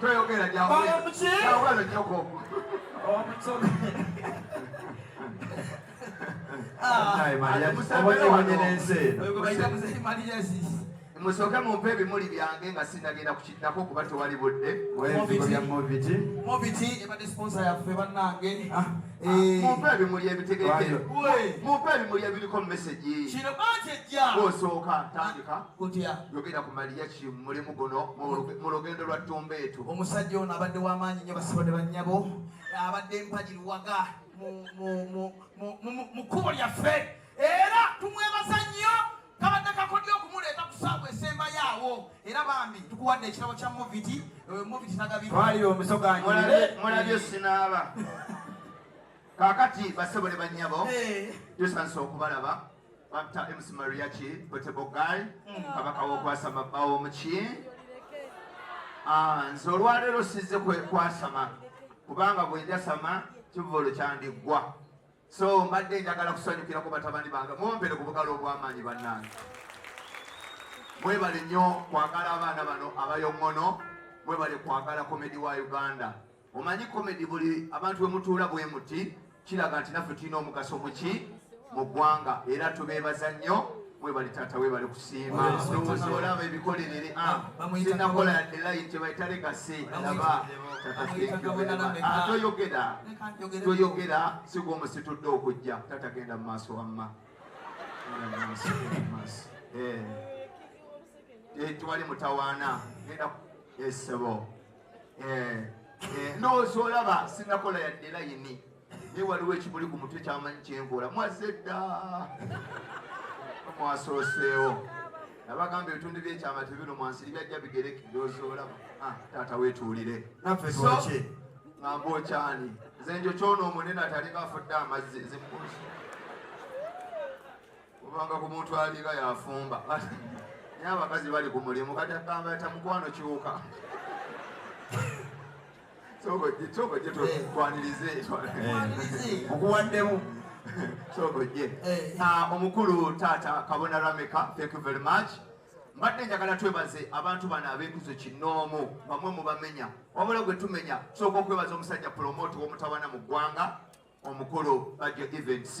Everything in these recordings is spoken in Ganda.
Toyogera gyawula. Gyawula no joko. Omutobe. Ah, musooke mumpe ebimuli byange nga sinagenda kukiddako kuba tewali budde mumpe ebimuli ebitegeke mumpe ebimuli ebiriko mumesegi osooka tandika kutya yogera ku maliyaki mulimu guno mu lugendo lwa ttumba etu omusajja ono abadde w'amaanyi nnyo basibade bannyabo abadde mpagi luwaga mu kkubo lyaffe era tumwebaza nnyo kabadde kakodyo okumuleeta ku saawa esembayo awo era bambi tukuwadde ekirabo kya moviti eh, moviti nagabitwalire omusoganyimulabye sinaaba kakati basebole bannyabo eh. tusansa okubalaba Batta MC Mariachi Potable Guy mm. kabaka w'okwasama bba w'omuki ah, nze olwaleero sizze kwasama kubanga bwenjasama kivvolo kyandiggwa so mbadde njagala kusanyukira ku batabani bange mumpere ku bugalo obw'amaanyi bannange mwebale nnyo kwagala abaana bano abayoŋono mwebale kwagala komedi wa uganda Omanyi komedi buli abantu bwe mutuula bwe muti kiraga nti naffe tulina omugaso muki mu ggwanga era tubeebaza nnyo webali taata webali kusiima olaba ebikolerere ah, sinakola yadde layini kyebayita legase laba toyogera toyogera sigwa omusitudde okujja taata genda mu maaso wamma eh. eh, twali mutawaana genda esebo eh, eh, eh, ndowooza olaba sinakola yadde layini naye waliwo ekimuli ku mutwe kyamanyi kyenkola mwazze dda mwasooseewo nabagamba ebitundu byekyama tebino mwansiri byajja bigereke ndowooza olaba ah, taata wetuulire naffe twaki ngamba okyani nze njo kyona omunene atalinga afudde amazzi zimukusa kubanga ku muntu aliga yafumba naye abakazi bali ku mulimu kati agamba ata mukwano kyuka sogoje tukwanirize mukuwaddemu sogoje omukulu taata kabona rameka thank you very much mbadde njagala twebaze abantu bano abekuzo kinoomu bamwe mubamenya wabula gwe tumenya sooka okwebaza omusajja pulomoti womutabana mu ggwanga omukulu Bajjo Events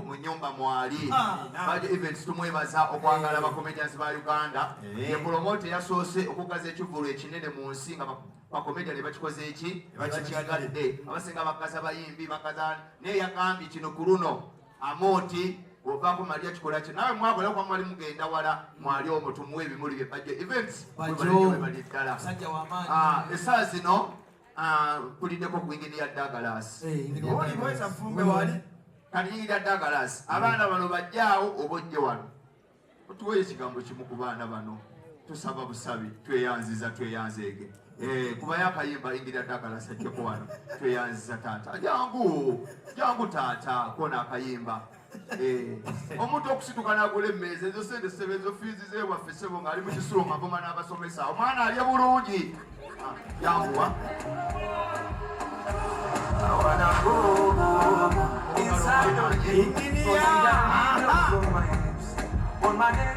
mu nyumba mwali ah, Bajjo Events tumwebaza okwagala eh. bakomedians ba Uganda eh. yepromote yasoose okugaza ekivulu ekinene mu nsi nga bakomedian bakikoze eki bakiyagadde abasinga bakaza bayimbi bakaza naye yagambye kino ku luno amooti ovaako mali akikola ki nawe mwakola kuba mwali mugenda wala mwali omu tumuwa ebimuli bye Bajjo Events bali ddala ah, esaa zino Ah, kulideko gwingini ya Douglas oli mweza fumbe wali kati ya Douglas abaana bano bajjaawo obojje wano otuwe ekigambo kimu ku baana bano tusaba busabi tweyanziza tweyanzeege eh, kuba yakayimba ingira Douglas ajjeko wano tweyanziza taata jangu jangu taata kona akayimba Eh, omuntu okusituka nagula emmeeza ezo sente sebe ezo fiizi zewaffe sebo ng'ali mu kisulo ngagoma n'abasomesa omwana alye bulungi ah, yanguwa Inside of me, in the air, on my lips, on my head.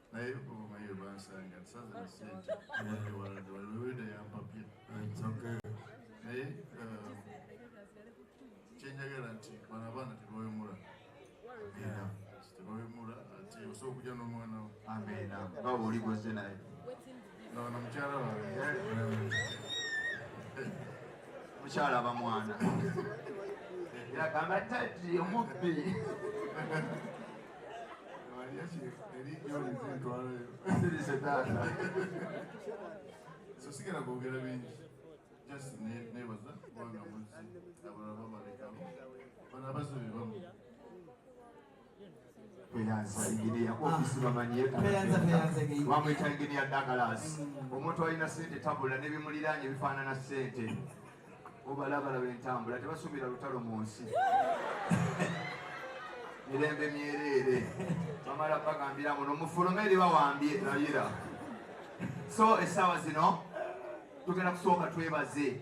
naye omumayo bansanga nsaza na sente abadde walade waliweda yampapye naye uh, kyenjagala nti bano abaana tebawemula tebawemula ati osobola okujja n'omwana wo baba oli gwaze naye Ono mukyala wange. Mukyala aba mwana. Yagamba tati omubbi. Sirise taata. So sigala kwogera bingi. Just nebaza kubanga muzzi abalala bamalekamu. Bano abazibi bamu. bamwita enginia Douglas omuntu alina sente tabula nebimuliraanye bifaanana sente obalabalaba entambula tebasubira lutalo mu nsi mirembe myereere bamala bagambira muno mufulume eri bawambye layira so essaawa zino tugenda kusooka twebaze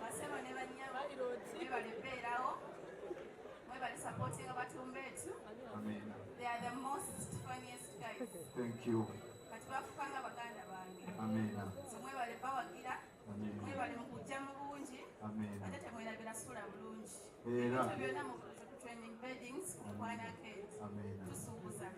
Basebo ne bannyabo mwebale beerawo mwebale supporting abatumba etu they are the most funniest guys thank you kati bafukanga baganda bange so mwebale bawagira mwebale mukujja mu bungi ate temwerabira sula bulungi ebyo byonna mu training beddings mukwanaketi tusuubuza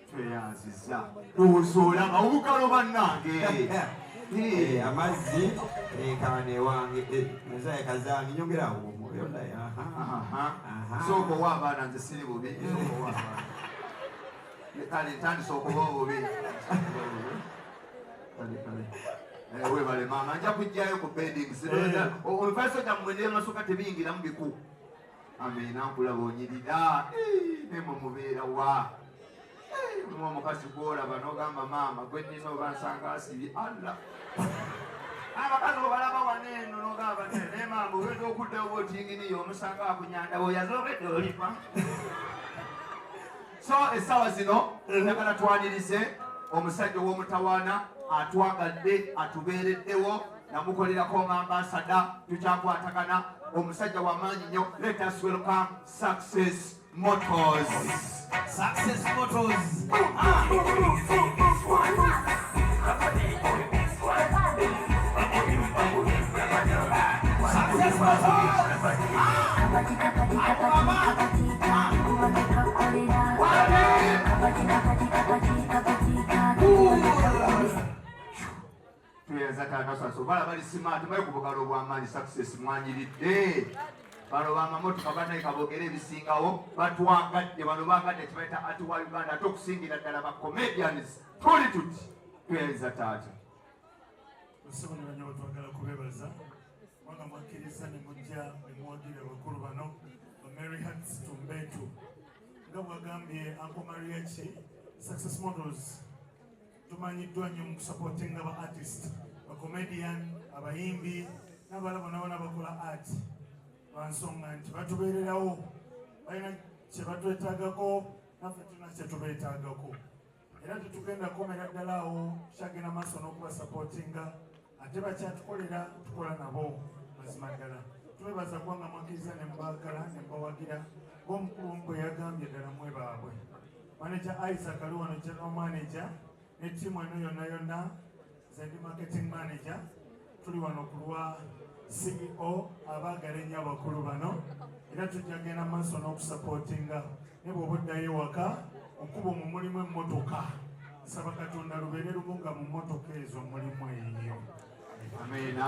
tweyanziza ndowooza olaba obukalo bannange amazzi enkana ewange nazaye kazange nyongerawo omwoyo naye sooka owa abaana nze siri bubi kale ntandisa okuba obubi Eh, webale maama nja kujjayo ku beding eh. omufaso gyammwe nemasuka tebiyingiramu biku amina nkulaba onyirira eh, nemwe mubeera wa mwa omukazi gwolaba nogamba maama gwe nina oba nsanga asibye alla abakazi obalaba wana eno nogamba ne maama obedde okuddawo otinginiyo omusanga akunyandawo yazobedde olipa so essaawa zino mm-hmm. njagala twanirize omusajja ow'omutawaana atwagadde atubeereddewo namukolerako nga ambasada tukyakwatagana omusajja wamaanyi nyo let us welcome success motors success motors ah. tuyazatakasaso bala bali simaati bali ku bugalo obwamaanyi success mwanyiridde bano bamamotoka banaye kabogere ebisingawo batwagadde bano bagadde kibaita ati wa uganda ate okusingira ddala ba comedians tuli tuti tweyanza taata nsibonera nyo batwagala kubebaza mwana mwakkiriza ne mujja ne muwagira abakulu bano bamary hats tumbetu nga bwagambye anko mariachi success models tumanyiddwa nyo mu kusapotinga ba artist bacomedian abayimbi n'abala bona bona bakola art lwansonga nti batubeererawo balina kyebatwetagako naffe tulina kyetubeetagako era tetugenda komera ddala awo tukyagenda maaso n'okubasapootinga ate bakyatukolera tukola nabo mazima ddala twebaza kubanga mwakkiriza ne mubagala ne mubawagira ng'omukulu omu bwe yagambye ddala mwe baabwe maneja isaac ali wano general manaja ne tiimu eno yonna yonna Nze ndi marketing manager, tuli wano ku lwa CEO abaagala ennyo abakulu bano era tujja genda maaso n'okusapootinga ne bw'oba oddayo ewaka okuba mu mulimu emmotoka nsaba katonda lubeere lumu nga mu mmotoka ezo mulimu eyo amena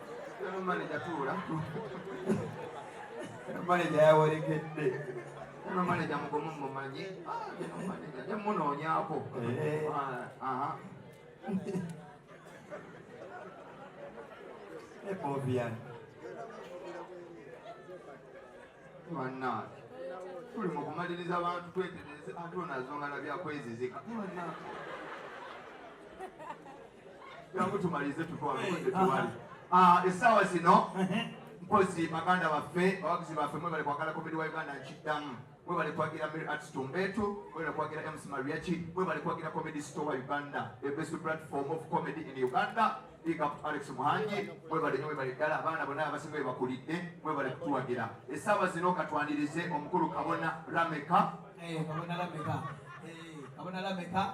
maneja yawerekedde ono maneja mugumu mumanyi maneja temunoonyako ebobian banange tuli mu kumaliriza abantu twetereze ate onazongala byakwezizika banange jangu tumalize tutwalonde tuwali ah, essaawa zino mpozi baganda baffe bawagizi baffe mwebale kwagala komedi wa uganda nkiddamu mwebale kwagira mary arts tumbetu mwebale kwagira ems mariachi mwebale kwagira comedy store uganda the best platform of comedy in uganda big up to alex muhangi mwebale nyo mwebale ddala abaana bonna abasinga bebakulidde mwebale kutuwagira essaawa zino katwanirize omukulu kabona rameka kabona rameka kabona rameka